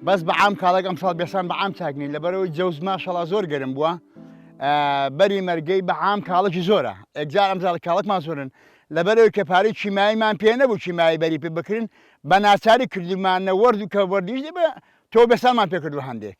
بەس بە عام کاڵێک ئەم ساڵ بێسان بە عام چاک نین لەبەرەوەی جەوز ماشەڵا زۆر گەرم بووە بەری مەرگەی بە عام کاڵەکی زۆرە ئەجار ئەم زاڵ کاڵکمان زۆرن لەبەرەوەی کە پارەی چیماییمان پێ نەبوو چیمایی بەری پێ بکرین بە ناچاری کردمانە وەرد و کە وەردیش دەبێ تۆ بێسانمان پێکردو هەندێک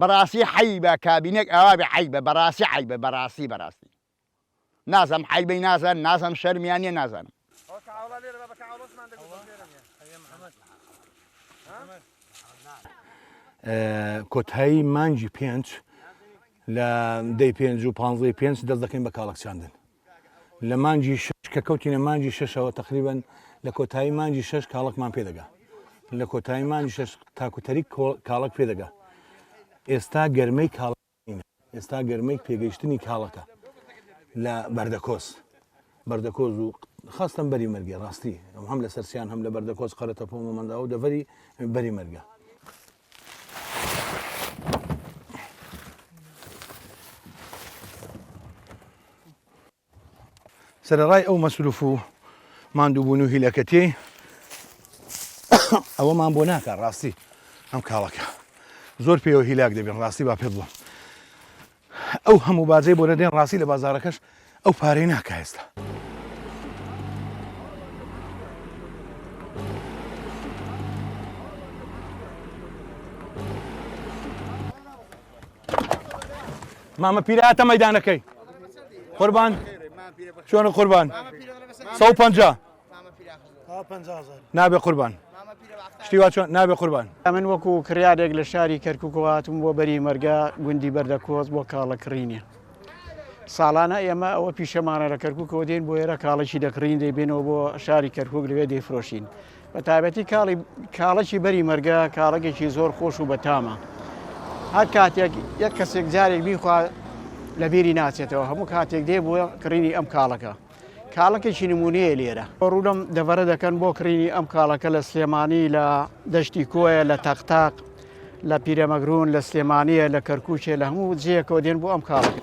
بەڕاستی حەیبە کابینەک ئاوابێ عەیبە بەڕاستی عەیبە بەڕاستی بەڕاستی نازم حەیبەی نازم نازم شەرمیان نیە نازانم. کۆتایی مانگی پێنج لە دەی پێنج و پانزەی پێنج دەست دەکەین بە کاڵەک چاندن. لە مانگی شەش کە کەوتینە مانگی شەشەوە تەقریبەن لە کۆتایی مانگی شەش کاڵەکمان پێدەگا لە کۆتایی مانگی شەش تاکوتەری کاڵک پێدەگا ئێستا گەرمەی کاڵ ئێستا گەرمەی پێگەیشتنی کاڵەکە لە بەردەکۆس بەردەکۆز و خاستم بەری مەرگێ ڕاستی ئەم هەم لە سەرسیان هەم لە بەردەکۆز قەرەتە پۆمەمەنداو دەڤری بەری مەرگە سەرەڕای ئەو مەسروف و ماندووبوون و هیلەکەتی ئەوەمان بۆ ناکە ڕاستی ئەم کاڵەکە زۆر پێوە هیلاک دەبێن ڕاستی با پێ بڵم ئەو هەموو باجەی بۆ دەدەین ڕاستی لە بازاڕەکەش ئەو پارەی ناکا ئێستا. مامە پیرە هاتە مەدانەکەی قوربان چۆنە قوربان 150 نابێ قوربان شتی وا چۆن نابێ قوربان ئەمن وەکو کڕارێک لە شاری کەرککەوە هاتم بۆ بەری مەرگا گوندی بەردە کۆز بۆ کاڵە کڕینە ساڵانە ئێمە ئەوە پیشەمانە لە کەرککەوە دێن بۆ ئێرە کاڵەکی دەکڕین دەیبێنەوە بۆ شاری کەرکک لەوێ دەیفرۆشین بە تابەتی کاڵی کاڵەکی بەری مەرگە کاڵەکێکی زۆر خۆش و بەتامە هەر کاتێک یەک کەسێک جارێک بیخوا لە بیری ناچێتەوە هەموو کاتێک دێ بووە کڕینی ئەم کاڵەکە کاڵەکێکی نمونەیە لێرە. ڕوو لەم دەڤەرە دەکەن بۆ کڕینی ئەم کاڵەکە لە سلێمانی لە دەشتی کۆیە لە تەقتاق لە پیرەمەگرون لە سلێمانیە لە کەرکوچێ لە هەموو جێەکەەوە دێن بۆ ئەم کاڵەکە.